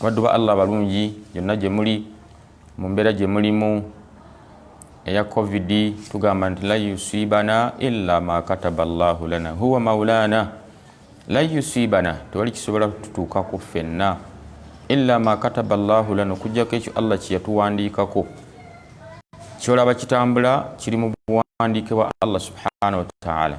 abaddu ba allah abalungi yonna gye muli mu mbeera gye mulimu eya covid tugamba nti la yusibana illa ma kataba llahu lana huwa maulana la yusibana tewali kisobola tutuukako ffenna illa ma kataba llahu lana okujjako ekyo allah kyeyatuwandiikako kyolaba kitambula kiri mu buwandiike bwa allah subhanahu wataala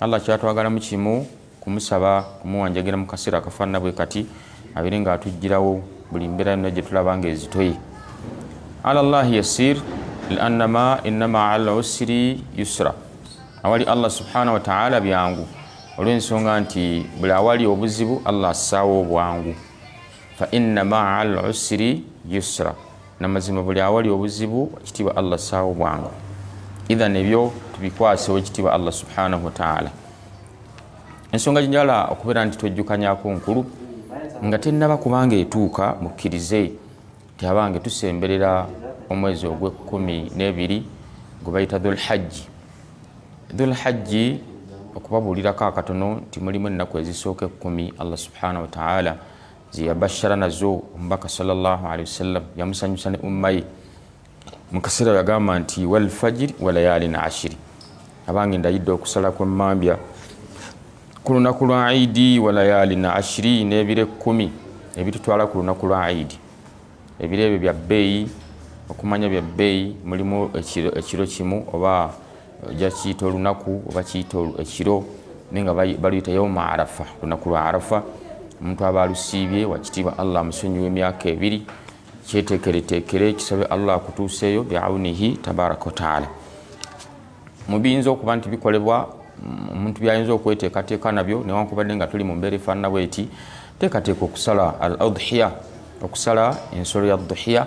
Allah kyatwagalamu kimu kumusaba kumuwanjagira mu kaseera akafaanana bwe kati abeere nga atujjirawo buli mbeera yonna gye tulaba nga ezitoye ala llahi yasir liannama innama ala usiri yusra awali allah subhanahu wataala byangu olw'ensonga nti buli awali obuzibu allah assaawo obwangu fa innama ala usiri yusra namazima buli awali obuzibu ekitiibwa allah saawo bwangu ithan ebyo tubikwasewo ekitiibwa allah subhanahu wataala ensonga gyenjala okubeera nti twejjukanyako nkulu nga tennaba kubanga etuuka mukkirize ti abange tusemberera omwezi ogwekumi nebiri gwe bayita dhulhajji dhulhajji okubabuulirako akatono nti mulimu ennaku ezisooka ekkumi allah subhanahu wataala zeyabashara nazo omubaka salllahalaihi wasallam yamusanyusa ne umma ye mu kaseera yagamba nti walfajiri walayalin ashiri abange ndayidde okusala kwemmambya ku lunaku lwa idi walayalin ashiri n'ebiro ekkumi ebitutwala ku lunaku lwa idi ebiro ebyo bya bbeeyi okumanya bya bbeeyi mulimu ekiro kimu oba ojja kiyita olunaku oba kiyita ekiro naye nga baluyita yauma arafa olunaku lwa arafa omuntu aba alusiibye wakitiibwa allah amusonyiwa emyaka ebiri kyetekeretekere kisabe allah akutuuseeyo biaunihi tabaraka wataala mubiyinza okuba nti bikolebwa omuntu byayinza okweteekateeka nabyo newankubadde nga tuli mu mbeera efaanana bweti teekateeka okusala al adhiya okusala ensolo ya dhuhiya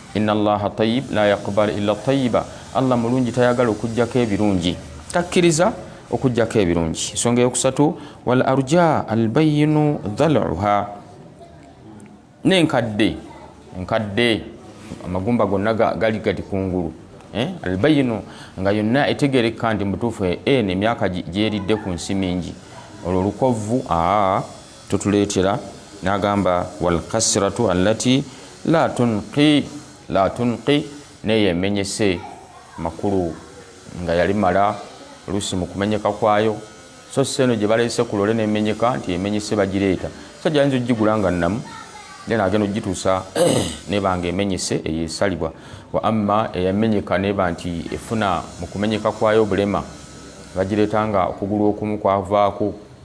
inna allaha tayib la yaqbal illa tayiba allah mulungi tayagala okujjako ebirungi takkiriza okujjako ebirungi ensonga eyokusatu wal arja albayinu dhaluha nenkadde enkadde amagumba gonna gali gati kungulu eh? albayinu nga yonna etegerekka nti mutuufu eh, en emyaka gyeridde ku nsi mingi olwo lukovvu aa ah. totuleetera n'agamba walkasiratu allati la tunqi la tunqi neyo emenyese makulu nga yali mala oluusi mu kumenyeka kwayo so si eno gye baleese ku lole nemenyeka nti emenyese bagireeta so gyayinza okugigula nga nnamu then agenda okugituusa neba nga emenyese eyo esalibwa wa amma eyamenyeka neba nti efuna mu kumenyeka kwayo obulema bagireeta nga okugulu okumu kwavaako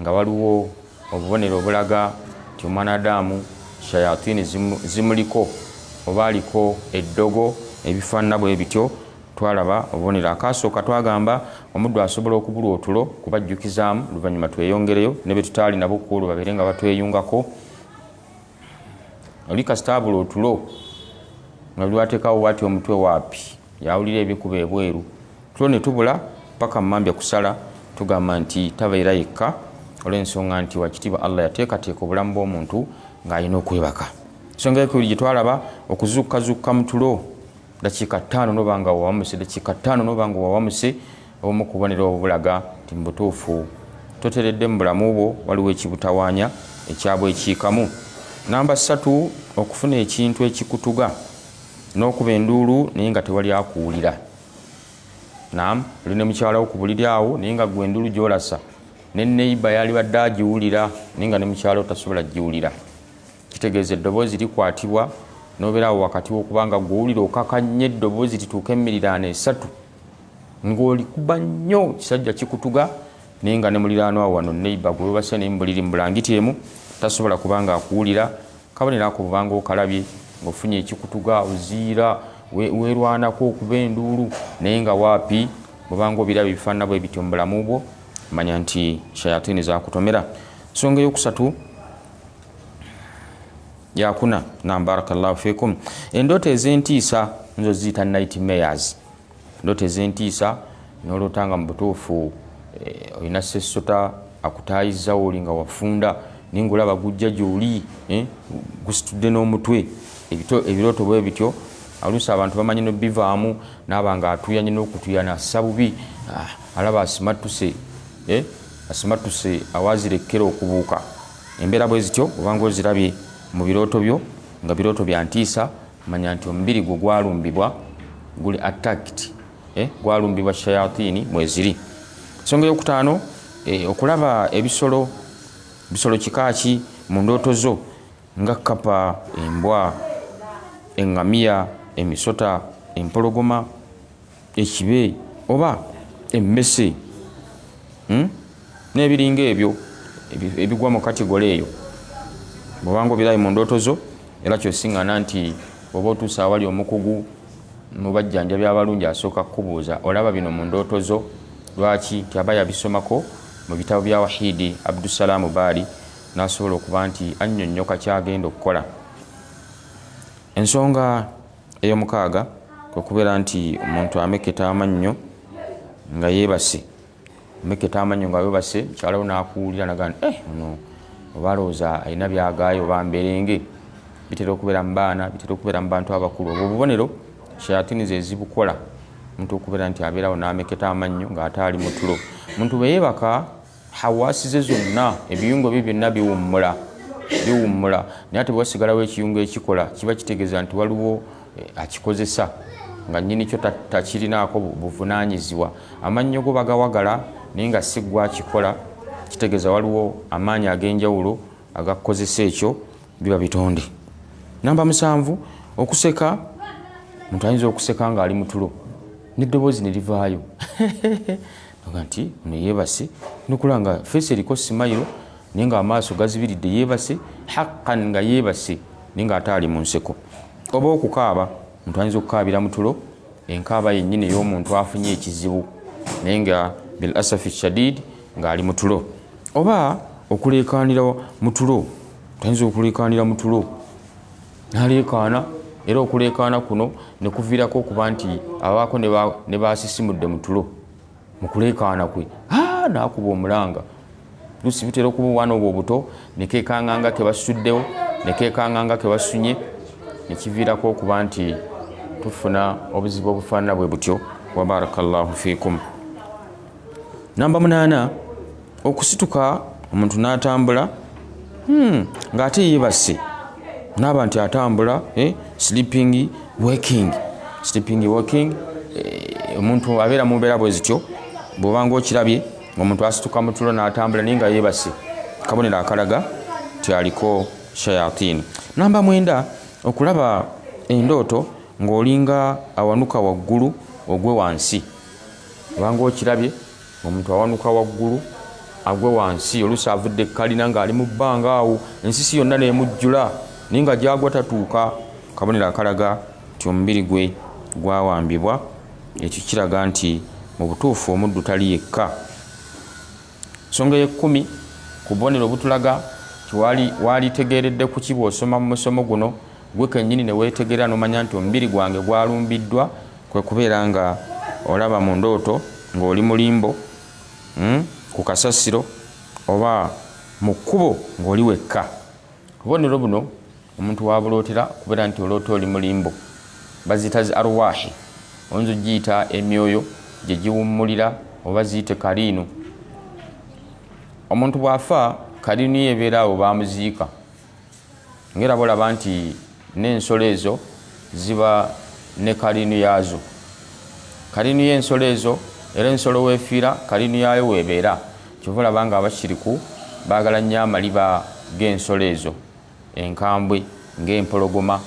Nga waliwo obubonero obulaga nti omwana Adamu shayatini zimuliko oba aliko eddogo ebifaanana bwe bityo, twalaba obubonero. Akaasooka twagamba omuddu asobola okubulwa otulo kubajjukizaamu, oluvannyuma tweyongereyo ne be tutaali nabo ku olwo babeere nga batweyungako. oli kasitaabula otulo nga lwatekawo bwati omutwe waapi yawulira ebikuba ebweru tulo ne tubula paka mumambya kusala tugamba nti tabeera yekka olw'ensonga nti wakitiibwa allah yateekateeka obulamu bw'omuntu ng'alina okwebaka ensonga ekuli gye twalaba okuzukkazukka mu tulo dakiika ttaano noba nga wawamuse dakiika ttaano noba nga wawamuse obumu kubonera obubulaga nti mubutuufu toteredde mu bulamu bwo waliwo ekibutawanya ekyabwa ekiikamu namba ssatu okufuna ekintu ekikutuga n'okuba enduulu naye nga tewali akuwulira nam oli ne mukyalawo ku buliri awo naye nga gwe enduulu gyolasa ne neiba yalibadde agiwulira naye nga ne mukyalawo tasobola giwulira kitegeeza eddoboozi likwatibwa nobeerawo wakati wokubanga gwowulira okaka nnyo eddoboozi lituuka emiriraano esatu ngaolikuba nnyo kisajja kikutuga naye nga ne muliraano awo wano neiba gwewebase naye mubuliri mubulangiti emu tasobola kubanga akuwulira kabonero ako bubanga okalabye ngaofunye ekikutuga oziira werwanako okuba enduulu naye nga waapi bubanga obiraba ebifaanana bwe bityo mu bulamu bwo manya nti shayatini zakutomera nsonga eyokusatu yakuna nam barakallahu fikum endoto ezentiisa nzo ziyita night mayors endoto ezentiisa nolota nga mubutuufu eh, olina sesota akutayiza oli nga wafunda naye ngaolaba gujja gyoli eh, gusitudde n'omutwe ebirooto bwe bityo alusi abantu bamanyi nobivaamu naaba nga atuyanye n'okutuyana assa bubi ah, alaba asimattuse eh, asimattuse awazirekkera okubuuka Embeera bwe zityo oba ng'ozirabye mu birooto byo nga birooto bya ntiisa, manya nti omubiri gwo gwalumbibwa, guli attacked, eh, gwalumbibwa shayatini mweziri. Ensonga ey'okutaano, eh, okulaba ebisolo, bisolo kika ki mu ndooto zo nga kkapa, embwa, engamiya, emisota, empologoma, ekibe oba emmese hmm? n'ebiringa ebyo ebigwa mu kategole eyo bwobanga obirayi mu ndooto zo era kyosiŋana nti oba otuusa awali omukugu mu bajjanjabi abalungi asooka kukubuuza olaba bino mu ndooto zo lwaki nti aba yabisomako mu bitabo bya wahiidi abdusalaamu baali n'asobola okuba nti annyonnyoka kyagenda okukola ensonga Ey'omukaaga kwe kubeera nti omuntu amekketa amannyo nga yeebase. Amekketa amannyo nga weebase, mukyala wo n'akuwulira n'agamba nti, eh ono oba alowooza alina by'agaaya oba mberenge. Bitera okubeera mu baana, bitera okubeera mu bantu abakulu. Obwo bubonero shayaatini ze zibukola, omuntu okubeera nti abeerawo n'amekketa amannyo ng'ate ali mu tulo. Omuntu bwe yeebaka. hawaasi ze zonna ebiyungo bye byonna biwummula biwummula naye ate bwewasigalawo ekiyungo ekikola kiba kitegeeza nti waliwo eh, akikozesa nga nyini kyo takirinaako buvunanyizibwa amannyo go bagawagala naye nga si gwa kikola kitegeeza waliwo amaanyi ag'enjawulo agakukozesa ekyo biba bitonde namba musanvu okuseka omuntu ayinza okuseka ng'ali mutulo n'eddoboozi ne livaayo Aga nti ono yeebase nokula nga feesi eriko simayiro naye nga amaaso gazibiridde yeebase haqqan nga yeebase naye nga ate ali mu nseko oba okukaaba omuntu ayinza okukaabira mu tulo enkaaba yennyini ey'omuntu afunye ekizibu naye nga bil asafi shadid ng'ali mu tulo oba okuleekaanira mu tulo tayinza okuleekaanira mu tulo naleekaana era okuleekaana kuno ne kuviirako okuba nti abaako ne baasisimudde mu tulo mu kuleekaana kwe naakuba omulanga lusi butera okuba obwana obwo obuto nekekanganga kebasuddewo nekekanganga kebasunye nekiviirako okuba nti tufuna obuzibu obufaanana bwe butyo wabarakallahu fikum namba munaana okusituka omuntu n'atambula hmm, ng'ate yeebase naaba nti atambula eh, sleeping working sleeping working eh, omuntu abeera mu mbeera bwe zityo bw'obanga okirabye omuntu asituka mu tulo n'atambula naye nga yeebase kabonero akalaga nti aliko shayatini namba mwenda okulaba endooto ng'olinga awanuka waggulu ogwe wansi obanga okirabye Omuntu awanuka waggulu agwe wansi oluusi avudde ekkalina ng'ali mu bbanga awo ensisi yonna n'emujjula naye nga gy'agwa tatuuka kabonero akalaga nti omubiri gwe gwawambibwa ekyo kiraga nti mu butuufu omuddu tali yekka nsonga ey'ekkumi ku bubonero obutulaga waalitegeeredde ku ki bw'osoma mu musomo guno gwe kennyini ne weetegerera n'omanya nti omubiri gwange gwalumbiddwa Kwe kubeera nga olaba mu ndooto ng'oli mu limbo, ku kasasiro, oba mu kkubo ng'oli wekka. Obubonero buno omuntu w'abulootera kubeera nti oloota oli mu limbo. Baziyita zi Arwaahi, oyinza okugiyita emyoyo gye giwummulira oba ziyite kaliinu. Omuntu bw'afa, kaliinu ye ebeera awo we bamuziika. Ng'era bolaba nti n'ensolo ezo ziba ne kaliinu yaazo. Kaliinu y'ensolo ezo era ensolo w'efiira kaliinu yaayo w'ebeera. Kyova olaba ng'abashiriku baagala nnyo amaliba g'ensolo ezo enkambwe ng'empologoma.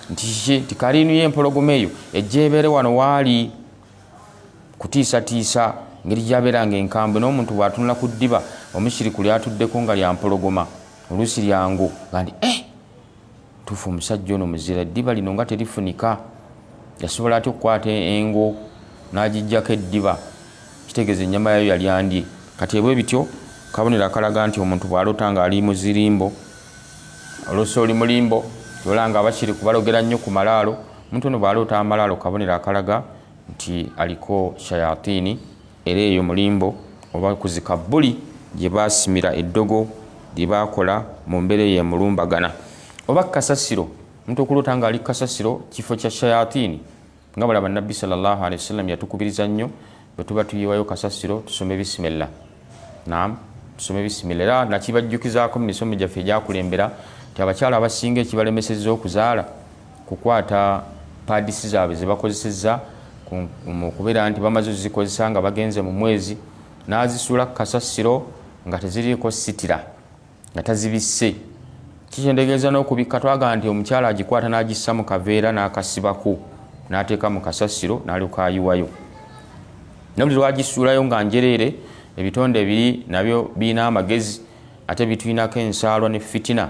Nti kiki? Nti kaliinu y'empologoma eyo ejja ebeere wano w'ali kutiisatiisa ngeri gy'abeera ng'enkambwe n'omuntu bw'atunula ku ddiba omushiriku ly'atuddeko nga lya mpologoma. oluusi lyangu nga nti eh, tuufu omusajja ono muzira eddiba lino nga terifunika yasobola atya okukwata engo n'agijjako eddiba kitegeeza ennyama yayo yali andye kati ebwe bityo kabonero akalaga nti omuntu bw'alota ng'ali muzirimbo oluusi oli mulimbo ola nga bakiri kubalogera nnyo ku malaalo omuntu ono bw'aloota amalaalo kabonero akalaga nti aliko shayatini Era eyo mu limbo oba ku zikabbuli gye baasimira eddogo lye baakola mu mbeera eyo emulumbagana. Oba kasasiro, omuntu okuloota nga ali ku kasasiro, kifo kya shayatini, nga bw'olaba Nabbi sala Allahu alaihi wasallam yatukubiriza nnyo bwe tuba tuyiwayo kasasiro tusome bisimilla. Naam, tusome bisimilla. Era nakibajjukizaako mu misomo gyaffe egyakulembera nti abakyala abasinga ekibalemesezza okuzaala, kukwata pads zaabwe zebakozesezza mu kubeera nti bamaze ozikozesa nga bagenze mu mwezi n'azisuula ku kasasiro nga teziriiko sitira nga tazibisse kikyendegeeza n'okubikka twagamba nti omukyala agikwata n'agissa mu kaveera n'akasibako n'ateeka mu kasasiro n'alyoka ayiwayo nabuli lwagisuulayo nga njereere ebitonde biri nabyo birina amagezi ate bitulinako ensaalwa ne fitina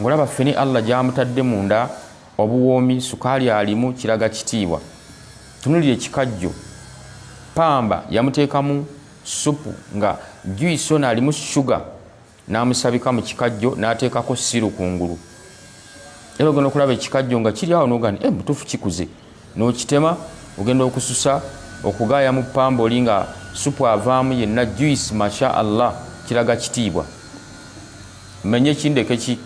Ngolaba ffene Allah gyamutadde munda obuwoomi sukaali alimu kiraga kitiibwa. Tunulira ekikajjo. Pamba yamuteekamu supu nga juice ono alimu sugar n'amusabika mu kikajjo n'ateekako siru kungulu. Era ogenda okulaba ekikajjo nga kiri awo n'ogani e eh, mutuufu kikuze n'okitema ogenda okususa okugaaya mu pamba oli nga supu avaamu yenna juice masha Allah kiraga kitiibwa. Mmenye ki ndeke ki?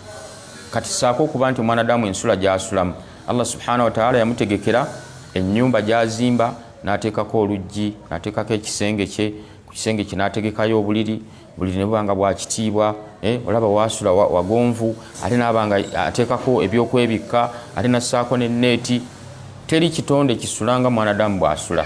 Kati ssaako okuba nti omwanadamu ensula gy'asulamu Allah subhanahu wa ta'ala yamutegekera ennyumba gy'azimba n'ateekako oluggi, n'ateekako ekisenge kye, ku kisenge kye n'ategekayo obuliri, obuliri ne buba nga bwa kitiibwa, eh, olaba waasula wa, wagonvu, ate n'aba nga ateekako ebyokwebikka, ate n'assaako n'enneeti. Teri kitonde kisula nga mwanadamu bw'asula.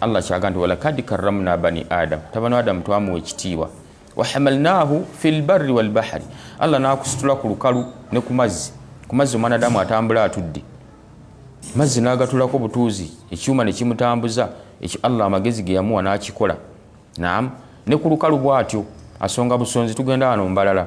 Allah ky'aga nti walakad karramna bani Adamu, tabani Adamu twamuwa ekitiibwa. wahamalnahu fi lbarri walbahari allah nakusitula ku lukalu ne ku mazzi ku mazzi omwanadamu atambula atudde mazzi nagatulako butuuzi ekyuma nekimutambuza ekyo allah amagezi geyamuwa nakikola nam ne ku lukalu bwatyo asonga busonzi tugenda wano mbalala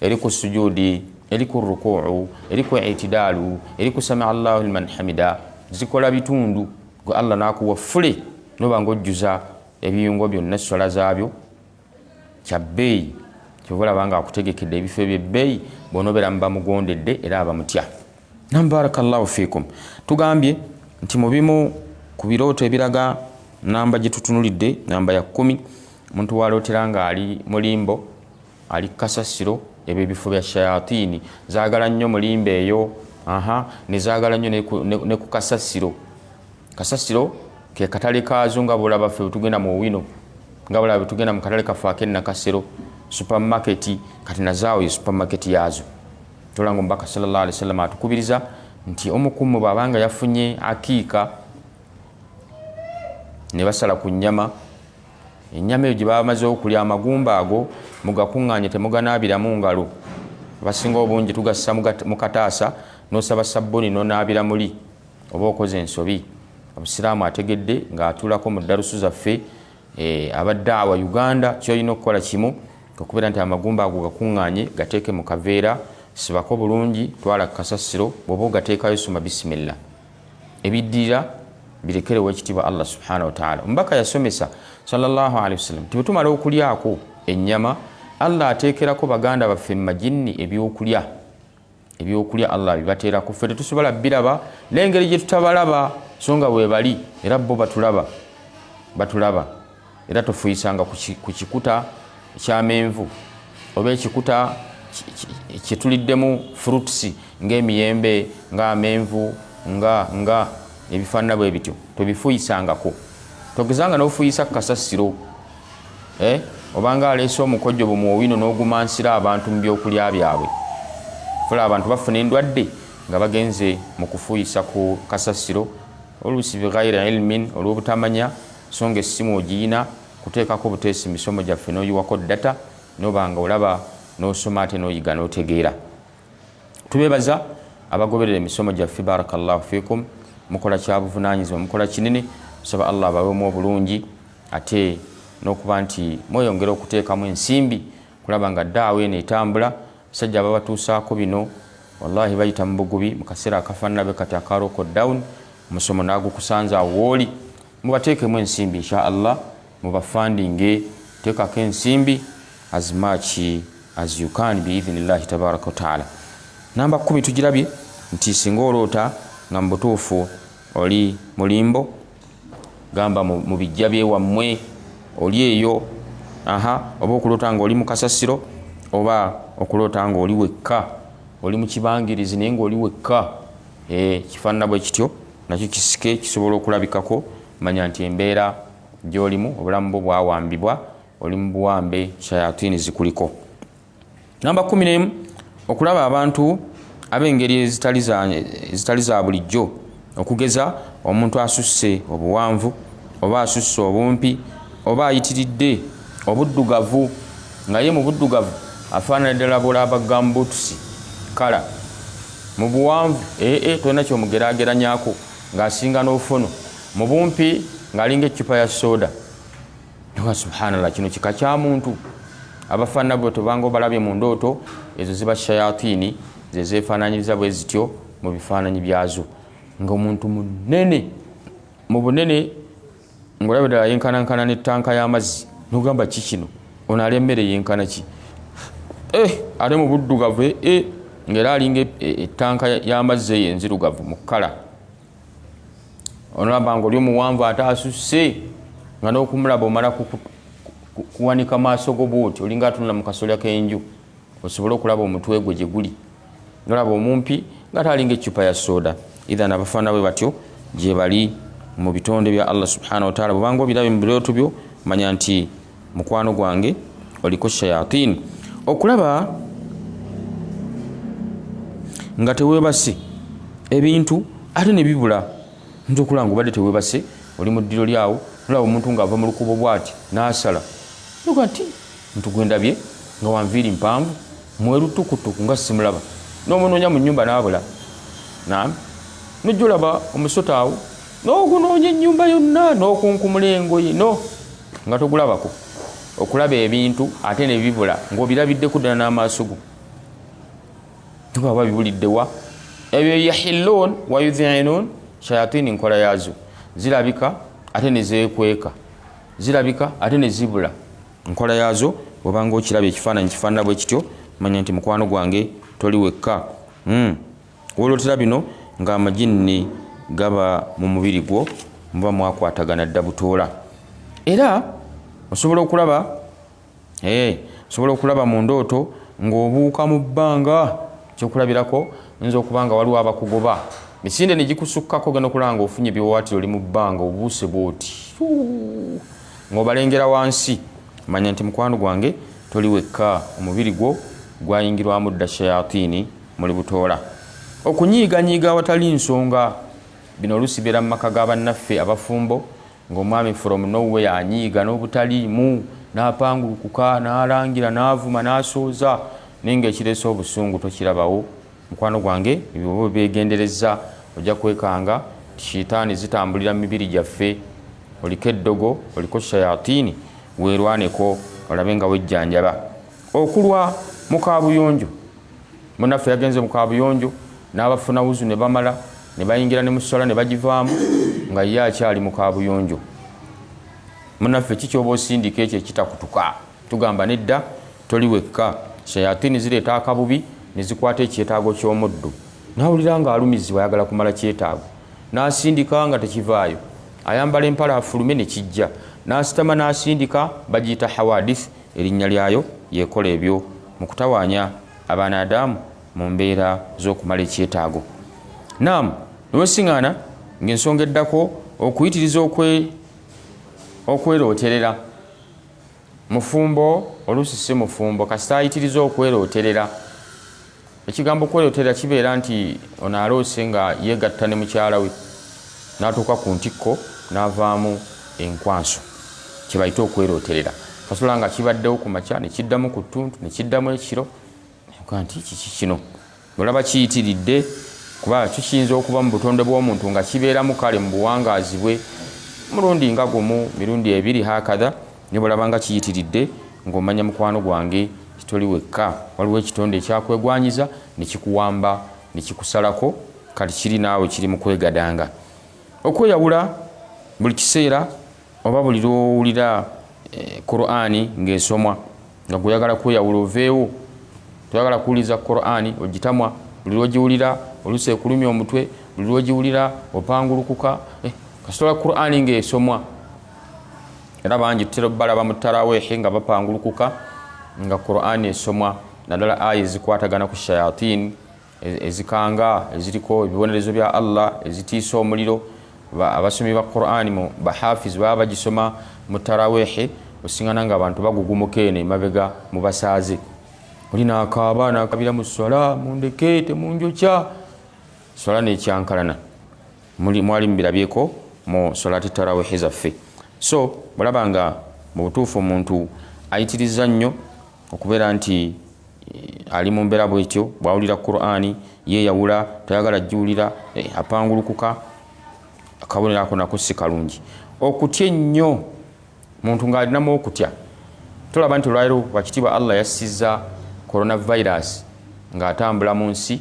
eri ku sujudi eri ku rukuu eri ku itidaalu eri ku sami allahu liman hamida zikola bitundu gwe allah nakuwa fule noba nga ojjuza ebiyungo byonna essola zaabyo kyabbeeyi kyova olaba nga akutegekedde ebifo ebyebbeeyi bonobeera mubamugondedde era abamutya nam barakallahu fikum tugambye nti mu bimu ku birooto ebiraga namba gye tutunulidde namba ya kkumi omuntu walootera ng'ali mulimbo Ali kasasiro ebyo ebifo bya shayatini zagala nnyo mulimba eyo aha nezagala nnyo ne ku kasasiro kasasiro ke katale kaazo nga bulaba ffe bwetugenda mu owino nga bulaba bwetugenda mu katale kaffe akennakasero supamaketi kati nazaawo ye supamaketi yaazo tolanga omubaka salllah alihi wasallama atukubiriza nti omukumu bwabanga yafunye akiika ne basala ku nnyama Ennyama eyo gye baba bamaze okulya amagumba ago mugakuŋŋaanye temuganaabiramu ngalo. Abasinga obungi tugassa mu kataasa n'osaba sabbuni n'onaabira muli oba okoze ensobi. Obusiraamu ategedde ng'atuulako mu ddalusu zaffe eh, aba daawa Uganda ky'olina okukola kimu okubeera nti amagumba ago gakuŋŋaanye gateeke mu kaveera sibako bulungi twala ku kasasiro bw'oba ogateekayo soma bisimilla. ebiddirira birekere owekitiibwa allah subhana wataala omubaka yasomesa salllahu alehi wasallam ti bwetumala okulyako ennyama allah ateekerako baganda baffe mu majinni ebyokulya ebyokulya allah bibateerako ffe tetusobola biraba n'engeri gye tutabalaba so nga bwe bali era bo batulaba batulaba era tofuyisanga ku kikuta kyamenvu oba ekikuta kyetuliddemu fruits ngaemiyembe nga amenvu nga nga ebifaanana bwe bityo tobifuyisangako togezanga nofuyisa kasasiro eh? obanga aleese omukojjo bumwowino n'ogumansira abantu mu byokulya byabwe fula abantu bafuna endwadde nga bagenze mu kufuyisa ku kasasiro oluusi bighaira ilmin olw'obutamanya So nga essimu ogiyina kuteekako buteesi misomo gyaffe noyiwako data noba nga olaba nosoma ate noyiga notegeera. Tubebaza abagoberera emisomo gyaffe barakallahu fikum mukola kyabuvunanyizibwa mukola kinene tusaba Allah abawemu obulungi ate nokuba nti mweyongera okuteekamu ensimbi kulaba nga daawa eno etambula Abasajja ababatuusaako bino walahi bayita mu bugubi mu kaseera akafaanana bwe kati aka local down, omusomo n'agukusanze awo wooli. Mubateekemu ensimbi insha Allah, mubafandinge, teekako ensimbi as much as you can bi-idhinillahi tabaraka wa taala. Namba kkumi tugirabye nti singa oloota nga mu butuufu oli mu limbo, gamba mu bijja byewammwe oli eyo aha oba okuloota nga oli mu kasasiro oba okuloota nga oli wekka oli mu kibangirizi naye ngaoli wekka eh, kifaanana bwe kityo nakyo kisike kisobola okulabikako manya nti embeera gyolimu obulamu bwo bwawambibwa oli mu buwambe shayatini zikuliko namba kumi nemu okulaba abantu ab'engeri ezitali za bulijjo okugeza omuntu asusse obuwanvu oba asusse obumpi oba ayitiridde obuddugavu nga ye mu buddugavu afaanana ddala bulaaba gambutusi kala mu buwanvu ee eh, eh, tolina kyomugerageranyako ng'asinga n'ofono mu bumpi ng'alinga eccupa ya sooda Ewa subhanallah kino kika kya muntu abafaanana bwe tobanga obalabye mu ndooto ezo ziba shayatini ze zeefaananyiriza bwe zityo mu bifaananyi byazo ng'omuntu munene mu bunene ng'olaba ddala yenkanankana n'ettanka y'amazzi nogamba ki kino ono ali emmere yenkana ki eh, ate mu buddugavu eh, eh, ng'era alinga ettanka y'amazzi eyo enzirugavu mu kkala onolaba nga oli omuwanvu ate asusse nga nokumulaba omala kuwanika maaso go bwoti olinga atunula mu kasolya kenju osobole okulaba omutwe gwe gyeguli nolaba omumpi nga ate alinga eccupa ya soda ithan abafaana bwe batyo gyebali mu bitonde bya allah subhanahu wataala bwebanga obirabe mu birooto byo manya nti mukwano gwange oliko shayatin okulaba nga tewebase ebintu ate nebibula nti okulanga obadde tewebase oli mu ddiro lyawo olaba omuntu ngaava mu lukubo bwati nasala oga nti ntu gwendabye nga wanviiri mpanvu mwerutukutuku nga simulaba nomunoonya mu nyumba nabula nam nojja olaba omusota awo n'okunoonya ennyumba yonna n'okunkumula engoye no nga togulabako okulaba ebintu ate ne bibula ng'obirabiddeko ddala n'amaaso go tuba oba bibuliddewa ebyo yahilluun wayudhiinuun shayatini nkola yaazo zirabika ate ne zeekweka zirabika ate ne zibula nkola yaazo obanga okiraba ekifaananyi kifaanana bwe kityo manya nti mukwano gwange toli wekka hmm. Wolotera bino nga amajinni gaba mu mubiri gwo muba mwakwatagana dda butoola era osobola okulaba eh, osobola okulaba mu ndooto ng'obuuka mu bbanga kyokulabirako nza okuba nga waliwo abakugoba misinde negikusukkako ogenda okulaba nga ofunye biwawaatiro oli mu bbanga obuuse bwoti ng'obalengera wansi manya nti mukwano gwange toli wekka omubiri gwo gwayingirwamu dda shayatini Muli butoola, okunyiiganyiiga awatali nsonga. Bino oluusi bibeera mu maka ga bannaffe abafumbo ng'omwami from no where anyiiga n'obutaliimu n'apangulukuka n'alangira n'avuma n'asooza naye ng'ekireese obusungu tokirabawo. Mukwano gwange ebyo bw'oba obyegenderezza ojja kwekanga nti shiitaani zitambulira mu mibiri gyaffe. Oliko eddogo, oliko shayatiini, weerwaneko olabe nga wejjanjaba. Okulwa mu kaabuyonjo. munaffe yagenze mu kabuyonjo n'abafuna wuzu ne bamala ne bayingira ne musala ne bagivaamu nga ye akyali mu kabuyonjo munaffe kikyoba osindika ekyo ekitakutuka tugamba nedda toli wekka shayatini zireeta akabubi ne zikwata ekyetaago ky'omuddu nawulira nga alumizibwa ayagala kumala kyetaago n'asindika nga tekivaayo ayambala empala afulume ne kijja n'asitama n'asindika bagiyita hawadith Erinnya lyayo y'ekola ebyo mu kutawaanya Abanaadaamu mu mbeera z'okumala ekyetaago. Naam, ne wesing'aana ng'ensonga eddako okuyitiriza okwe, okwerooterera. Mufumbo, oluusi si mufumbo, kasita ayitiriza okwerooterera. ekigambo kweyotera kibeera nti ono aloose nga yeegatta ne mukyala we n'atuuka ku ntikko n'avaamu enkwanso kye bayita okwerooterera kasula nga kibaddewo ku makya ne kiddamu ku ttuntu ne kiddamu ekiro nkuba nti kiki kino olaba kiyitiridde kuba kyo kiyinza okuba mu butonde bw'omuntu nga kibeeramu kale mu buwangaazi bwe mulundi nga gumu mirundi ebiri hakadha Ne bw'olaba nga kiyitiridde, ng'omanya mukwano gwange nti toli wekka. Waliwo ekitonde ekyakwegwanyiza ne kikuwamba ne kikusalako, kati kiri naawe kiri mu kwegadanga okweyawula buli kiseera oba buli lw'owulira eh, Kuraani ng'esomwa nga gw'oyagala kweyawula oveewo. Toyagala kuwuliriza Kuraani ogitamwa, buli lw'ogiwulira oluusi ekulumya omutwe, buli lw'ogiwulira opangulukuka. Eh, kasitola Kuraani ng'esomwa era bangi tutera balaba mu taraweehi nga bapangulukuka nga qurani esomwa naddala aya ezikwatagana ku shayatin e-, ezikanga eziriko ebibonerezo bya allah ezitiisa omuliro abasomi ba qurani mu bahafiz baba bagisoma mu taraweehi osingana nga abantu bagugumuka eno emabega mu basaaze oli nakaaba nakabira mu swala mundeke temunjokya swala nekyankalana muli mwali mubirabyeko mu salati tarawihi zaffe so olaba nga mu butuufu omuntu ayitiriza nnyo okubeera nti eh, ali mu mbeera bwetyo bwawulira qurani yeyawula tayagala jjuwulira eh, apangulukuka akabonero ako nako si kalungi okutya ennyo muntu ng'alinamu okutya tulaba nti olwaliro wakitiibwa allah yassiza coronavirus ng'atambula mu nsi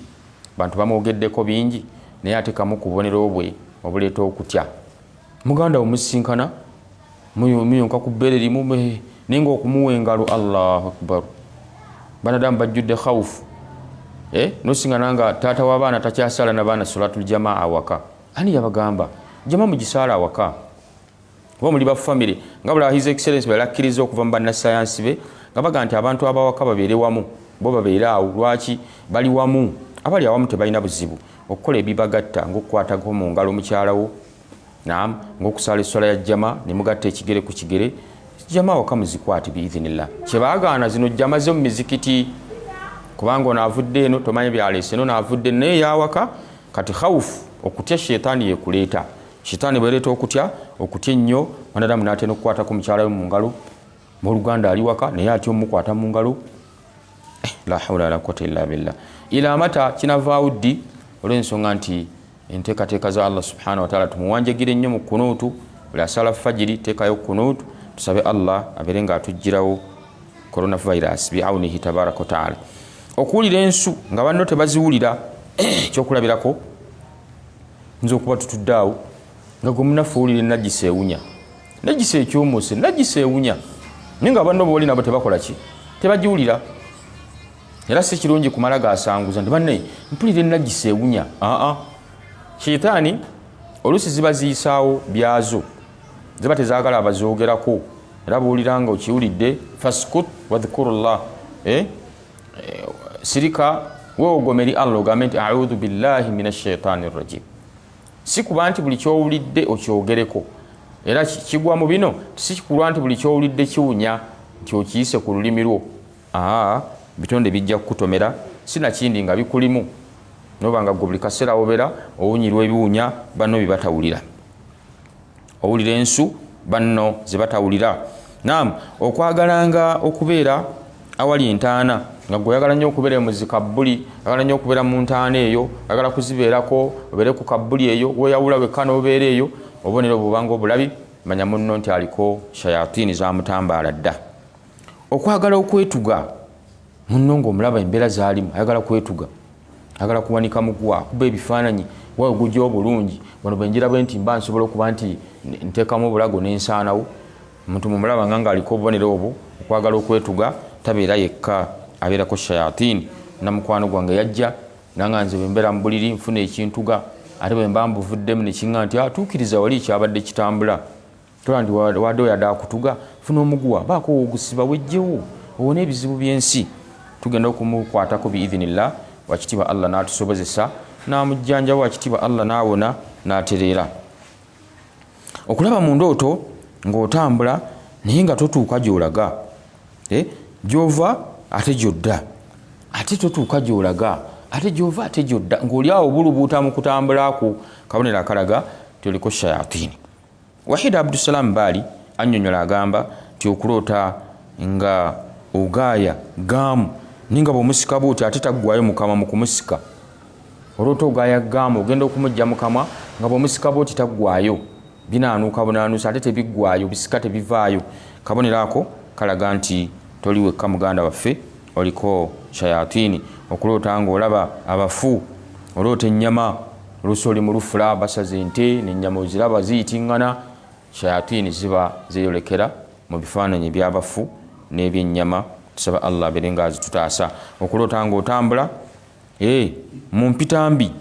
Abantu bamwogeddeko bingi naye ate kamu ku bubonero bwe obuleeta okutya. Muganda wo musisinkana muyonka ku bbeere limu naye ng'okumuwa engalo Allahu akbaru. Banadamu bajjudde khawufu eh, nosingana nga taata w'abaana takyasaala na baana solatul jamaa awaka. Ani yabagamba jamaa mugisaale awaka? oba muli ba famire nga bula his excellence balakkiriza okuva mu bannasayansi be nga baga nti abantu abawaka babeere wamu bo babeere awo lwaki bali wamu abali awamu tebalina buzibu okukola ebibagatta ngaokukwatako mu ngalo mukyalawo nam ngaokusaala esswala ya jjama ne mugatta ekigere ku kigere jjama awaka muzikwate biidhinillah kyebagaana zino jjama ze mu mizikiti kubanga ono avudde eno tomanyi byaleese no naavudde naye yawaka kati khawufu okutya sheitaani yekuleeta Shitaani bwereeta okutya okutya ennyo mwanadamu n'atera okukwatako mukyala we mu ngalo muluganda ali waka naye atya omukwata mu ngalo eh, la hawla wala quwwata illa billah ila mata kinavaawo ddi olw'ensonga nti enteekateeka za allah subhanahu wataala tumuwanjagire nnyo mu kunuutu buli asala fajiri teekayo kunuutu tusabe allah abeere nga atuggyirawo coronavirus biaunihi tabaraka wataala okuwulira ensu nga banno tebaziwulira ekyokulabirako nze okuba tutudde awo nga gwe munaffe owulire najisa ewunya najisa ekyomuse najisa ewunya naye nga abanna obawali nabo tebakola ki tebagiwulira era si kirungi kumala gasanguza nti banne mpulira enajisa ewunya aa sheitaani oluusi ziba ziyisaawo byazo ziba tezagala abazoogerako era buwulira nga okiwulidde faskut wadhkuru llah eh? eh, sirika wewogoma eri allah ogambe nti audhu billahi min ashaitani rajim si kuba nti buli kyowulidde okyogereko era kigwa mu bino sikikulwa nti buli kyowulidde kiwunya nti okiyise ku lulimi lwo aa bitonde bijja kukutomera sinakindi nga bikulimu noba nga gwe buli kaseera wobera owunyirwa ebiwunya banno bibatawulira owulira ensu banno ze batawulira nam okwagalanga okubeera awali entaana nga gwe oyagala nnyo okubeera mu zikabbuli agala nnyo okubeera mu ntaana eyo agala kuzibeerako obeere ku kabbuli eyo weyawula wekka n'obeera eyo obubonero bubanga obulabi manya munno nti aliko shayatini zamutambaala dda okwagala okwetuga munno ngaomulaba embeera zalimu ayagala kwetuga ayagala kuwanika mugwa akuba ebifaananyi wawe gujja obulungi wano bwenjira bwe nti mba nsobola okuba nti nteekamu obulago nensaanawo omuntu mumulaba nga ngaaliko obubonero obwo okwagala okwetuga tabeera yekka abeerako shayatini namukwano gwange yajja nanga nze bwembeera mu buliri nfuna ekintuga ate bwemba mbuvuddemu nekiŋa nti atuukiriza ah, wali ekyabadde kitambula tulandi wade oyade akutuga funa omuguwa baako ogusiba wejjewo owone ebizibu byensi tugenda okumukwatako biidhinillah wakitiibwa allah n'atusobozesa n'amujjanjawo wakitiibwa allah n'awona n'atereera okulaba mu ndooto ng'otambula naye nga totuuka gy'olaga eh, gy'ova ate gy'odda ate totuuka gy'olaga ate gy'ova ate gy'odda ng'oli awo bulubuuta mu kutambulako kabonero akalaga toliko shayatini Wahid Abdusalam Baali annyonyola agamba nti okuloota nga ogaaya ggaamu naye nga bw'omusika bw'otyo ate taggwayo mu kamwa mu kumusika oloota ogaaya ggaamu ogenda okumuggya mu kamwa nga bw'omusika bw'oti taggwayo binaanuuka bunaanuusa ate tebiggwayo bisika tebivaayo kabonero ako kalaga nti toli wekka muganda waffe oliko shayatini okuloota nga olaba abafu oloota ennyama olusi oli mulufula basaza ente nenyama oziraba ziyitingana shayatini ziba zeyolekera mu bifaananyi ebyabafu n'ebyennyama tusaba allah abere nga azitutaasa okuloota nga otambula e eh, mu mpitambi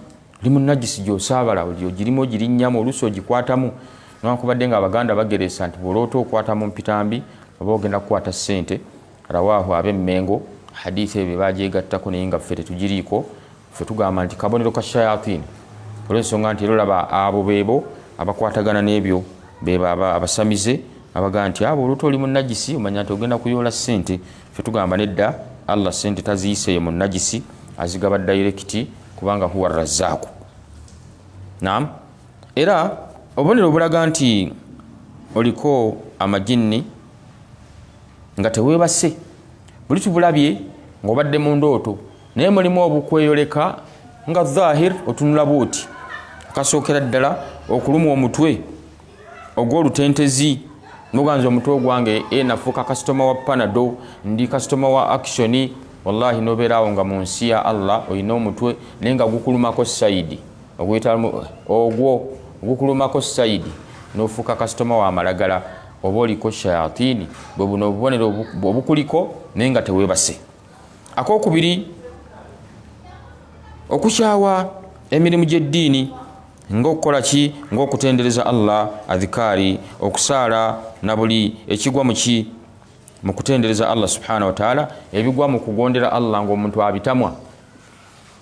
oli munagisi gyosaabala ogirimu ogirinyamu olusi ogikwatamu newakubadde nga abaganda bageresa nti bwoloota okwata mu mpitambi oba ogenda kukwata ssente Rawaahu ab'e Mmengo, hadiisi eyo be bagyegattako naye nga ffe tetugiriiko. Ffe tugamba nti kabonero ka shayatini olw'ensonga nti era olaba abo beebo abakwatagana n'ebyo beebo abasamize abagamba nti abo oluta oli munajisi omanya nti ogenda kuyoola ssente. Ffe tugamba nedda, Allah ssente taziyiseeyo mu najisi, azigaba dayirekiti kubanga huwa razzaaku. Naam, era obubonero obulaga nti oliko amajinni. nga tewebase buli tubulabye ngaobadde mu ndooto naye mulimu obukweyoleka nga zahir otunula bwoti akasookera ddala okulumwa omutwe ogwolutentezi noganza omutwe ogwange e nafuuka kasitoma wa panado ndi kasitoma wa actioni wallahi nobeeraawo nga mu nsi ya allah olina omutwe naye nga gukulumako saidi ogwo gukulumako saidi nofuuka kasitoma wa malagala oba oliko shayatini bwe buno obubonero obukuliko naye nga tewebase akokubiri okukyawa emirimu gy'eddiini ngaokukola ki ngaokutendereza allah adhikaari okusaala na buli ekigwa mu ki mu kutendereza allah subhanahu wataala ebigwa mu kugondera allah ngaomuntu abitamwa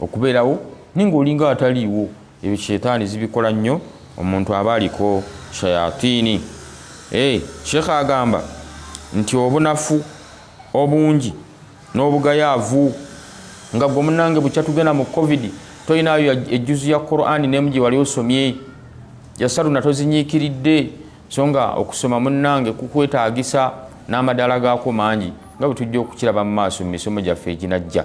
okubeerawo naye ng'olinga ataliiwo ebyo sheetaani zibikola nnyo omuntu aba aliko shayatiini eh, sheekh agamba nti obunafu obungi n'obugayaavu nga gwe munange bukya tugenda mu covid tolinayo ejjuzu ya qurani nemu gye wali osomye yasaluna tozinyiikiridde so nga okusoma munange kukwetaagisa n'amadaala gaako mangi nga bwe tujja okukiraba mu maaso mu misomo gyaffe eginajja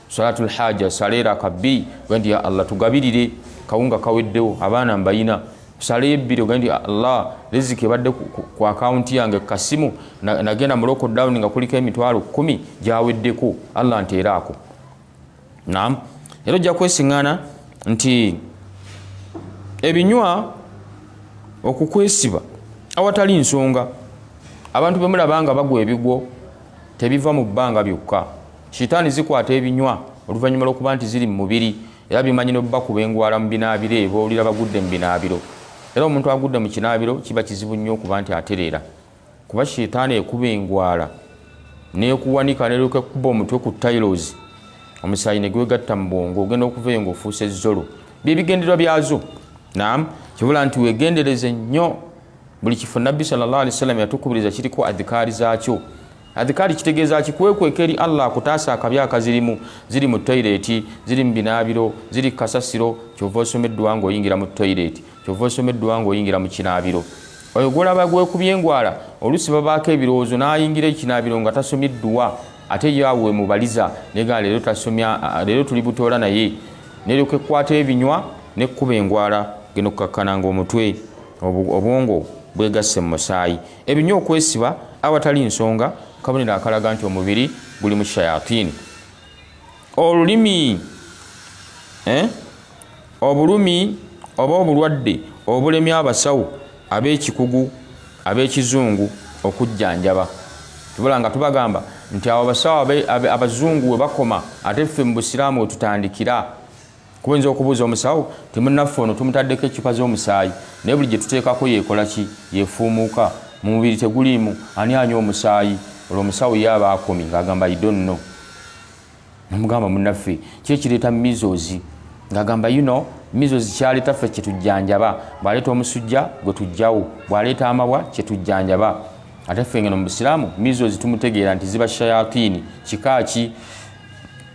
salatu lhaja saleera kabbi gandi ya allah tugabirire kawunga kaweddewo abaana mbayina sala ebbiri ogende ah, allah riziki ebadde ku akawunti yange kukasimu nagenda mu lockdown nga kuliko emitwalo kumi gyaweddeko allah nteeraako nam era ojja kwesiŋŋana nti ebinywa okukwesiba awatali nsonga abantu bemulaba nga bagwa ebigwo tebiva mu bbanga byokka shitaani zikwata ebinywa oluvannyuma lw'okuba nti ziri mu mubiri era bimanyi nobakuba engwala mu binaabiro ebyo owulira bagudde mu binaabiro era omuntu agudde mu kinaabiro kiba kizibu nnyo okuba nti atereera kuba shitaani ekuba engwala nekuwanika neryoka ekuba omutwe ku tailozi omusaayi negwegatta mu bwongo ogenda okuva eyo ngaofuusa ezzolo byebigenderwa byazo nam kibula nti wegendereze nnyo buli kifo nabbi salli wasallama yatukubiriza kiriko adhikaari zaakyo Adhikaari kitegeeza ki? Kwekweka eri Allah akutaasa akabi akazirimu. Ziri mu toyireeti, ziri mu binaabiro, ziri ku kasasiro. Kyova osoma edduwa ng'oyingira mu toyireeti, kyova osoma edduwa ng'oyingira mu kinaabiro. Oyo gw'olaba gwekubye engwala oluusi babaako ebirowoozo n'ayingira ekinaabiro nga tasomye edduwa ate ye awo wemubaliza negaa leero tasomya leero tuli butoola naye neryoka ekkwata ebinywa nekkuba engwala genda okukakkananga omutwe obwongo bwegasse mu musaayi Ebinya okwesiba awatali nsonga kabonero akalaga nti omubiri guli mu shayatini. Olulimi eh? obulumi oba obulwadde obulemya abasawo ab'ekikugu ab'ekizungu okujjanjaba. Tubula nga tubagamba nti abo abasawo abazungu we bakoma ate ffe mu Busiraamu we tutandikira. Kuyinza okubuuza omusawo nti, Munnaffe ono tumutaddeko eccupa z'omusaayi naye buli gye tuteekako yeekola ki? Yeefuumuuka? Mu mubiri teguliimu? Ani anywa omusaayi? Olwo omusawo ye aba akomye ng'agamba, I don't know. Namugamba, Munnaffe, ki ekireeta measles? Ng'agamba, You know, measles ky'aleeta ffe kye tujjanjaba. Bw'aleeta omusujja, gwe tuggyawo. Bw'aleeta amabwa, kye tujjanjaba. Ate ffe ng'eno mu Busiraamu, measles tumutegeera nti ziba shayatini. Kika ki?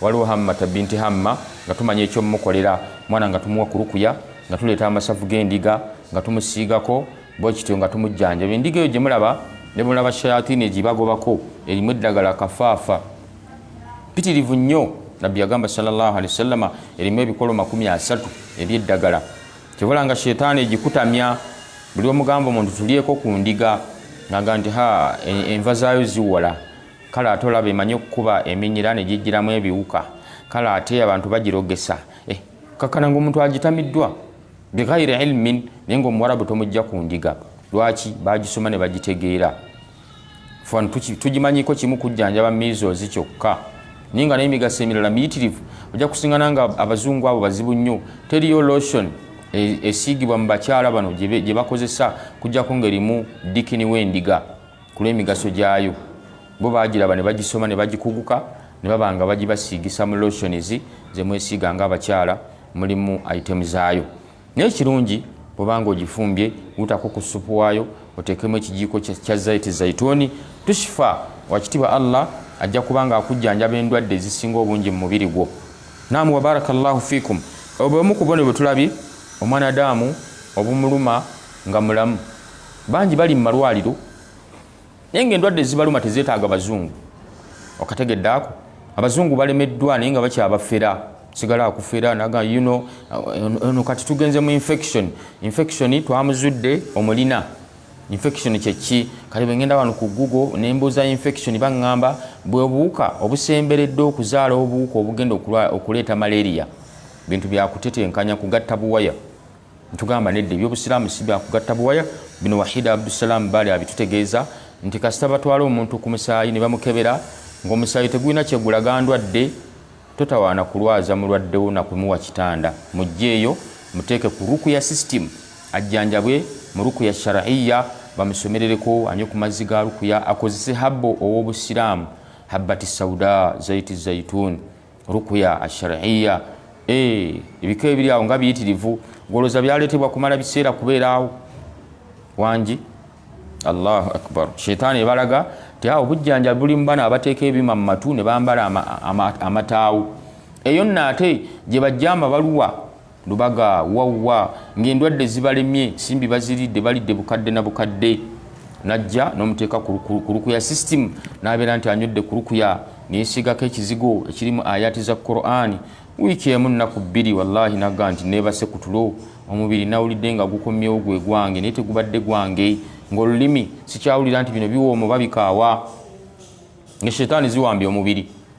waliwo hammata binti hamma nga tumanya ekyomukolera mwana nga tumuwa kurukuya nga tuleeta amasavu g'endiga nga tumusiigako bwekityo nga tumujjanjaba endiga eyo gye mulaba ne mulaba shayatini egibagobako erimu eddagala kafaafa pitirivu nnyo nabbi yagamba salllah alihi wasallama erimu ebikolo makumi asatu ebyeddagala kibula nga shetaani egikutamya buli omugamba omuntu tulyeko ku ndiga naga nti ha enva zaayo ziwola kale ate olaba emanyi okukuba eminyira ne gijjiramu ebiwuka kale ate abantu bagirogesa eh, kakana ngaomuntu agitamiddwa bighairi ilmin naye nga omuwarabu tomujja ku ndiga lwaki bagisoma ne bagitegeera fan tugimanyiko kimu kujjanjaba mizozi kyokka naye nga naye migaso emirala miyitirivu ojja kusingana nga abazungu abo bazibu nnyo teriyo lotion e, esiigibwa mu bakyala bano gye bakozesa kujjako ngerimu dikini w'endiga ku lw'emigaso gyayo bo baagiraba ne bagisoma ne bagikuguka ne baba nga bagibasiigisa mu lotions ze mwesiiga ng'abakyala mulimu itemu zaayo naye kirungi bwobanga ogifumbye wutako ku supu waayo oteekemu ekijiiko kya zaiti zaituuni tushifa wakitiibwa allah ajja kubanga akujjanjaba endwadde ezisinga obungi mu mubiri gwo naamu wabaraka llahu fikum obwemu ku bone bwe tulabye omwanadaamu obumuluma nga mulamu bangi bali mu malwaliro naye nga endwadde zibaluma tezetaaga bazungu okategedde ako abazungu balemeddwa naye nga bakyabafera sigala akufera naga you know uh, ono kati tugenze mu infection infection twamuzudde omulina infection kyeki kale bwengenda wano ku google nembuuza infection baŋŋamba bwebuwuka obusemberedde okuzaala obuwuka obugenda okuleeta malaria bintu byakutetenkanya kugatta buwaya Ntugamba nedda ebyobusiraamu si byakugatta buwaya bino Wahida Abdusalam Bali abitutegeeza nti kasita batwala omuntu ku musaayi ne bamukebera ng'omusaayi tegulina kye gulaga ndwadde totawaana kulwaza mulwadde wo na kumuwa kitanda muggyeeyo muteeke ku rukuya system ajjanjabwe mu rukuya sharaiya bamusomerereko anywe ku mazzi ga rukuya akozese habbo ow'obusiraamu habbati sauda zaiti zaituni rukuya ashariya eh, ebiko ebiri awo nga biyitirivu goloza byaletebwa kumala biseera kubeeraawo wangi allahu akbar sheitaani ebalaga ti awo bujjanja buli mubana abateeka ebima mu matu ne bambala amataawo eyo nno ate gye bajja amabaluwa Lubaga, Wawwa ng'endwadde zibalemye, simbi baziridde, balidde bukadde na bukadde. Najja n'omuteeka ku lukuya sisitimu n'abeera nti anywedde ku lukuya ne yeesiigako ekizigo ekirimu ayaati za Kuraani. Wiiki emu nnaku bbiri, wallaahi nagga nti neebase ku tulo, omubiri nawulidde nga gukomyewo gwe gwange naye tegubadde gwange, ng'olulimi sikyawulira nti bino biwooma oba bikaawa, nga shetaani ziwambye omubiri.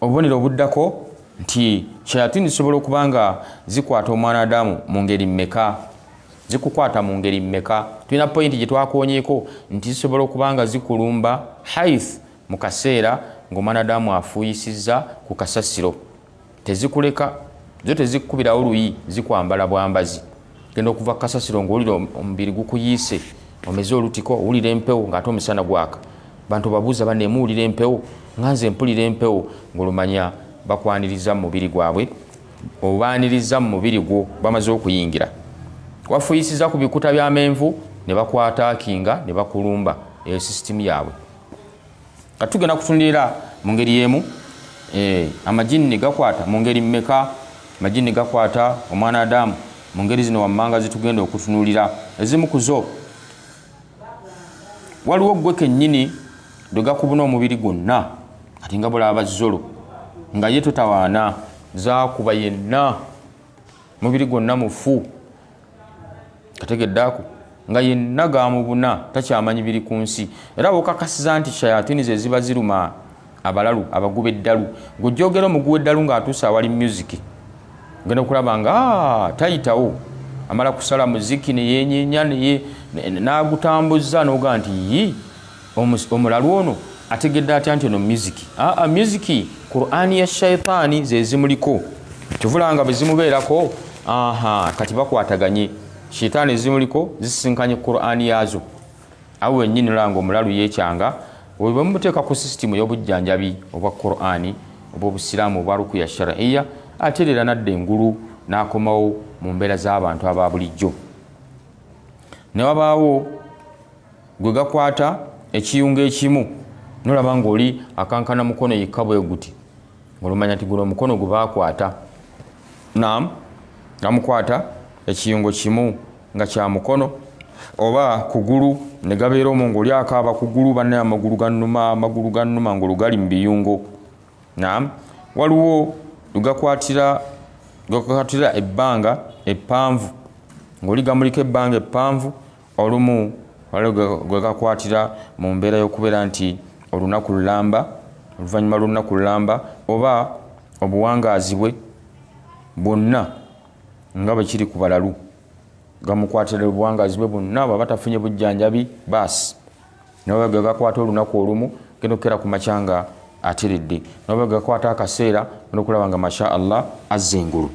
Obubonero obuddako nti shayatini zisobola okuba nga zikwata omwana adamu mu ngeri mmeka? Zikukwata mu ngeri mmeka? Tulina pointi gye twakoonyeeko nti zisobola okuba nga zikulumba haith mu kaseera ng'omwana adamu afuuyisizza ku kasasiro. Tezikuleka, zo tezikukubirawo luyi, zikwambala bwambazi. genda okuva kasasiro ngaowulira omubiri gukuyiise omeze olutiko owulira empewo ngaate omusana gwaka bantu babuuza banemuwulira empewo nga nze mpulira empewo ngaolumanya bakwaniriza mu mubiri gwabwe obaaniriza mu mubiri gwo bamaze okuyingira wafuyisiza ku bikuta byamenvu ne bakwata kinga ne bakulumba eyo sisitimu yaabwe kati tugenda kutunulira mu ngeri y'emu eh, amajinni gakwata mu ngeri mmeka amajinni gakwata omwana adamu mu ngeri zino wammanga zitugenda okutunulira ezimu ku zo waliwo ggwe kennyini lwe gakubuna omubiri gwonna kati nga bulaba zolo nga ye totawaana zakuba yenna mubiri gwonna mufu ategedde ako nga yenna gamubuna takyamanyi biri ku nsi era bwokakasiza nti shayatini ze ziba ziruma abalalu abaguba eddalu gwejogera omuguwa eddalu ng'atuuse awali musiki ogenda okulaba nga ah, tayitawo amala kusala muziki neyenyenya nagutambuza noga nti yii Omus- omulalu ono ategedde atya nti ono musiki aa musiki qurani ya shaitaani zezimuliko kyovulanga bwezimubeerako aha kati bakwataganye shaitaani ezimuliko zisisinkanye qurani yaazo awo wenyini olanga omulalu yekyanga oyo bwemuteeka ku sisitimu ey'obujjanjabi obwa qurani obw'obusiraamu obwa rukuya shariya atereera nadda engulu n'akomawo mu mbeera z'abantu aba bulijjo ne wabaawo gwe gakwata ekiyunga ekimu nolaba ngaoli akankana mukono yekka bweguti olumanya nti guno omukono gwe bakwata nam namukwata ekiyungo kimu nga kya mukono oba kugulu ne gabeera omu ngaoli akaaba kugulu banaye amagulu ganuma amagulu ganuma ngaolugali mu biyungo nam waliwo lugakwatira lugakwatira ebbanga eppanvu ngaoli gamuliko ebbanga eppanvu Olumu waliwo gwe, gwe gakwatira mu mbeera y'okubeera nti olunaku lulamba, oluvannyuma lw'olunaku lulamba, oba obuwangaazi bwe bwonna nga bwe kiri ku balalu gamukwatira obuwangaazi bwe bwonna, bw'aba tafunye bujjanjabi baasi. nabo bagakwata olunaku olumu genda okukera ku makya nga atiridde nabo bagakwata akaseera genda okulaba nga masha allah azza engulu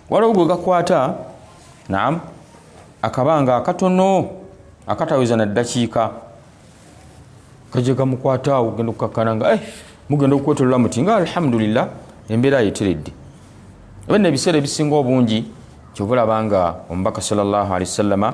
waliwo gwe gakwata naam akabanga akatono akataweza na ddakiika kajja gamukwata awo genda okukakkana nga eh, mugenda okukwetolola muti nga alhamdulillah embeera yeteredde ebinno ebiseera ebisinga obungi kyova olaba nga omubaka salllahalihi wasallama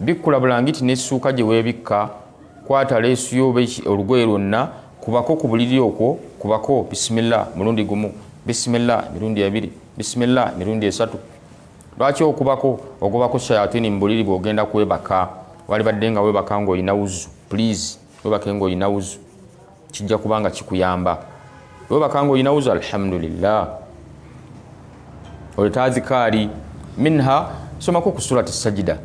Bikkula bulangiti n'essuuka gye weebikka, kwata leesu yo oba olugoye lwonna, kubako ku buliri okwo, kubako bisimilla mulundi gumu, bisimilla emirundi ebiri, bisimilla emirundi esatu. Lwaki okubako? Ogobako shayatini mu buliri bw'ogenda kwebaka, waalibadde nga weebaka ng'olina wuzu. Puliizi. webake nga olina wuzu kijja kuba nga kikuyamba webaka nga olina wuzu alhamdulillah oleta azikaari minha somako ku surati sajida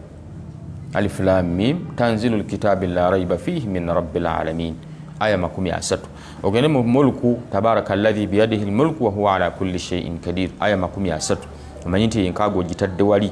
alif lam mim tanzilu lkitabi la raiba fihi min rabi lalamin aya makumi asatu ogende mu mulku tabaraka ladhi biyadihi lmulku wahuwa ala kulli sheiin kadir aya makumi asatu omanyi nti enkaago ogitadde wali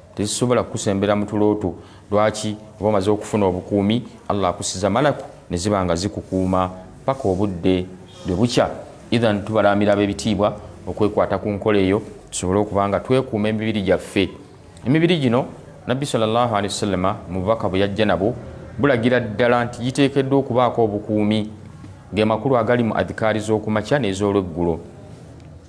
tezisobola kukusembera mu tulo two lwaki oba omaze okufuna obukuumi allah akusiza malaku ne ziba nga zikukuuma paka obudde lwe bukya ithan tubalaamira ab'ebitiibwa okwekwata ku nkola eyo tusobole okuba nga twekuuma emibiri gyaffe emibiri gino nabbi salllahu alehi wasallama mu bubaka bwe yajja nabwo bulagira ddala nti giteekeddwa okubaako obukuumi ge makulu agali mu adhikaari z'okumakya n'ez'olweggulo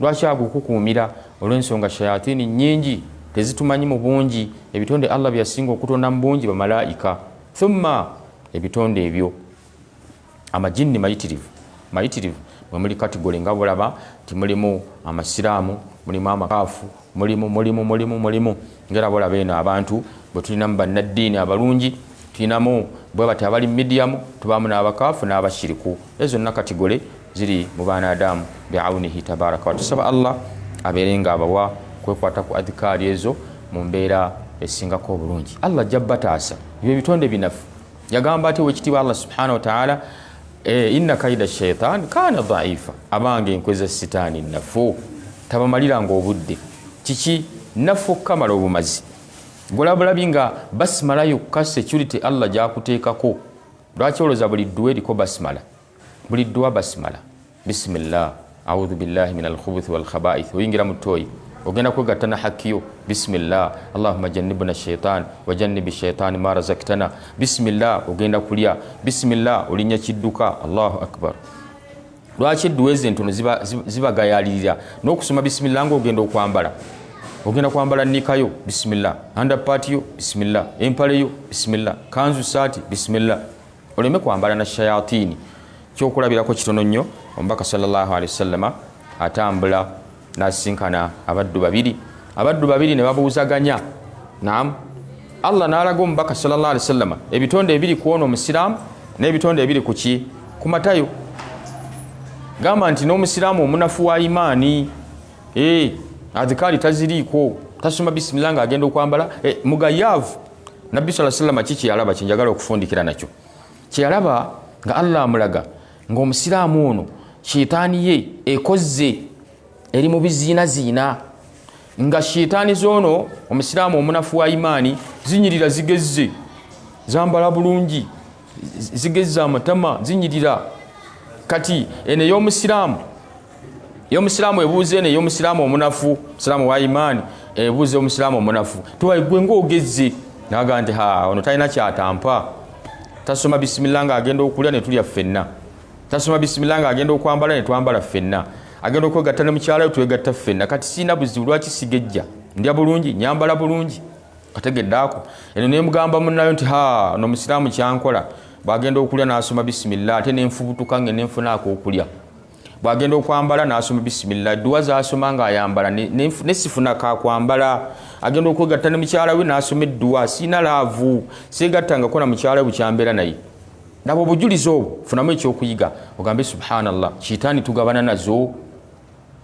lwaki agukukuumira olw'ensonga shayatini nyingi tezitumanyi mu bungi ebitonde allah byeyasinga okutonda mu bungi bamalaika thumma ebitonde ebyo amajinni mayitirivu mayitirivu mwemuli katigole nga bulaba nti mulimu amasiraamu mulimu amakaafu mulimu mulimu mulimu mulimu ngera bolaba eno abantu bwe tulinamu bannaddiini abalungi tulinamu bwe bati abali midiyamu tubaamu n'abakaafu n'abashiriku ezo zonna katigole ziri mu baana adamu biaunihi tabaraka watusaba allah abeere nga abawa kwekwata ku adhikaari ezo mu mbeera esingako obulungi allah ajja bataasa ebyo ebitonde binafu yagamba ati owekitiibwa allah subhanahu wataala eh, inna kaida shaitan kana dhaifa abange enkwe za sitaani nafu tabamaliranga obudde kiki nafu okukamala obumazi golabulabi nga basimala yokka security allah gyakuteekako lwaki oloza buli dduwa eriko basimala buli dduwa basimala bisimillah audhu billahi min alkhubuthi walkhabaith oyingira mu toyi ogenda kwegatta na hakiyo bisimillah allahuma janibuna shaitan wajanibi shaitan ma razaktana bisimillah ogenda kulya bisimillah olinya kidduka allahu akbar lwaki edduwa ezo entono zibagayalirira n'okusoma bisimillah nga ogenda okwambala ogenda kwambala nikayo bisimillah andapatiyo bisimillah empaleyo bisimillah kanzu saati bisimillah oleme kwambala na shayatini kyokulabirako kitono nnyo omubaka salllahu alehi wasallama atambula nasisinkana abaddu babiri abaddu babiri ne babuuzaganya nam allah nalaga omubaka salllah alihi wasallama ebitonde ebiri kwona omusiraamu n'ebitonde ebiri kuki ku matayo gamba nti n'omusiraamu omunafu wa imaani eh, adhikaali taziriiko tasoma bisimila nga agenda okwambala eh, mugayaavu nabbi saa salama ki kyeyalaba kyenjagala okufundikira nakyo kyeyalaba nga allah amulaga ngaomusiraamu ono shiitaani ye ekozze eri mu biziinaziina nga shiitaani zoono omusiraamu omunafu wa imaani zinyirira zigezze zambala bulungi zigezza amatama zinyirira kati eno eyomusiraamu eyomusiraamu ebuuza eno eyomusiraamu omunafu musiraamu wa imaani ebuuza omusiraamu omunafu tiwaigwe ngaogezze naga nti ha ono talina kyatampa tasoma bisimilla nga agenda okulya netulya ffenna tasoma bisimilla nga agenda okwambala netwambala ffenna agenda okwegatta ne mukyalayo twegatta ffenna kati siina buzibu lwaki sigejja ndya bulungi nyambala bulungi ategedde ako eno nemugamba munayo nti ha no musiraamu kyankola bwagenda okulya nasoma bisimilla ate nenfubutuka nge nenfunaako okulya bwagenda okwambala nasoma bisimilla edduwa zasoma nga ayambala nesifuna kakwambala agenda okwegatta ne mukyala we nasoma edduwa siina laavu segatta ngako na mukyala we bukyambeera naye nabo obujulizi obwo funamu ekyokuyiga ogambe subhanallah kiitaani tugabana nazo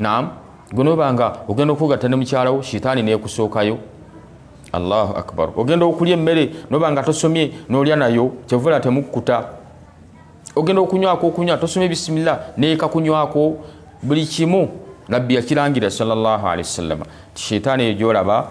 naam gwenoba nga ogenda okugatta ne mukyalawo shitaani nekusookayo allahu akbar ogenda okulya emmere noba nga tosomye nolya nayo kyevula temukkuta ogenda okunywako okunywa tosomye bisimilla neeka kunywako buli kimu nabbi yakirangira salllah alehi wasallama shitaani eyo gyolaba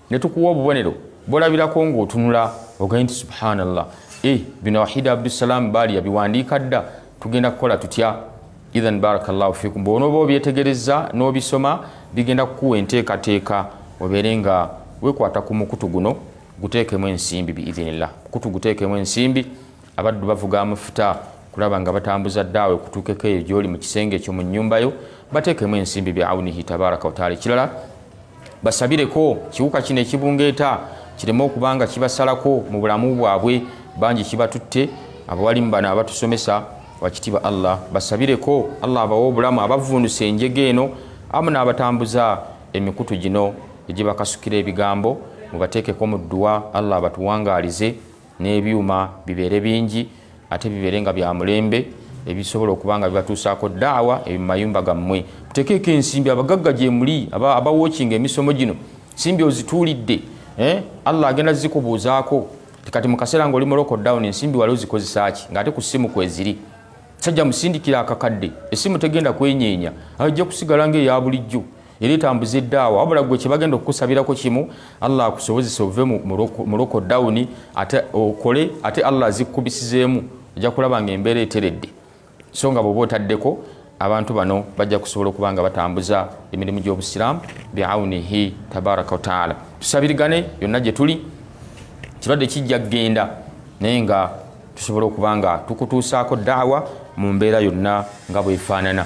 ne tukuwa obubonero bwolabirako ng'otunula ogende nti subhanallah e bino wahida abdusalaamu baali yabiwandiika dda tugenda kukola tutya ithan barakallahu fikum bwonooba obyetegereza n'obisoma bigenda kukuwa enteekateeka obeere nga wekwata ku mukutu guno guteekemu ensimbi biidhinillah mukutu guteekemu ensimbi abaddu bavuga amafuta kulaba nga batambuza ddaawe kutuukeko eyo gyoli mu kisenge ekyo mu nnyumba yo bateekemu ensimbi bya aunihi tabaraka wataala ekirala basabireko kiwuka kino ekibungeeta kireme okuba nga kibasalako mu bulamu bwabwe bangi kibatutte abawalimu bano abatusomesa wakitiba allah basabireko allah abawa obulamu abavundusa enjega eno amu n'abatambuza emikutu gino egibakasukira ebigambo mubateekeko mu dduwa allah abatuwangaalize n'ebyuma bibeere bingi ate bibeere nga bya mulembe ebisobola okuba nga bibatuusaako daawa ebi mumayumba gammwe mutekeeko ensimbi abagagga gyemuli abawokinga emisomo gino simbi ozituulidde eh? allah agenda zikubuuzaako kati mukaseera nga oli muloko down ensimbi wali ozikozesaaki ngaate ku ssimu kweziri sajja musindikira akakadde essimu tegenda kwenyeenya ajja kusigala ngaeya bulijjo era etambuza eddaawa wabula gwe kyebagenda okukusabirako kimu allah akusobozesa ove mu loko dawuni ate okole ate allah azikkubisizeemu ojja kulaba nga embeera eteredde so nga bweoba otaddeko abantu bano bajja kusobola okuba nga batambuza emirimu gy'obusiraamu biaunihi tabaraka wataala tusabirigane yonna gye tuli kirwadde kijja kugenda naye nga tusobola okuba nga tukutuusaako daawa mu mbeera yonna nga bwefaanana